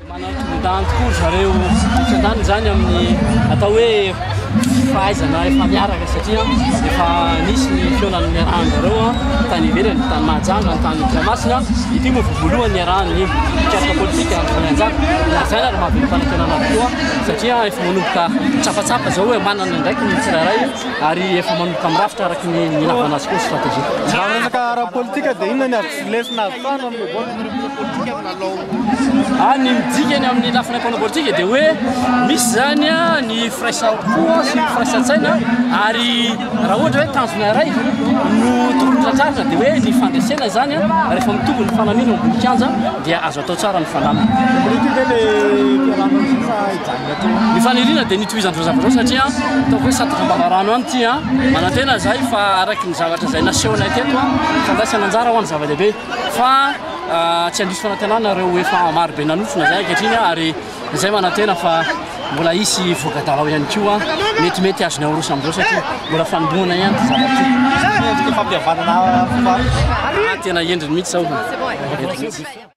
Manantondan tokoa zareo fitantanana izany amin'ny atao hoe fahaizana efa miaraka satria efa nisy ny fihaonan'ny niarahany zareo tany ivelany tany Mahajanga ny tany Toamasina ity moa voalohany niarahan'ny mpikaritra politika Andry Voahanjaka na izany ary mahavita fanafianana tokoa satria Manomboka mitsapatsapa izao hoe manana ny andraikiny ny tsirairay ary efa manomboka mirafitra araka ny nilavana azy koa ny stratégie. Raha resaka ara-politika dia inona ny azo lesona avy tany amin'io vote ireo mpanao politika amin'ny lalao? Ah, ny midika ny amin'ny lafiny mpanao politika dia hoe misy izany ny firaisampo sy ny firaisantsaina ary raha ohatra hoe tanjona iray no tokony tratrarina dia hoe ny fandresena izany rehefa mitovy ny fanamiana ao ambony kianja dia azo atao tsara ny fanamina. Ny faniriana dia ny hitohizan'ireo zavatra ireo satria ataoko hoe sady fampanarahana any ity an, manantena izahay fa araka ny zavatra izay nasehonay teto an, fandraisana anjara hoany zava-dehibe fa tsy handiso fanantenana ireo efa maro be nanofina izay ankehitriny an, ary izay manantena fa mbola hisy voka-dalao ihany koa metimety azony aoroso amin'izao satria mbola fanombohana ihany ity zavatra ity. Mendrika fampihavanana fo fa. Ah, tena endriny mihitsy izao.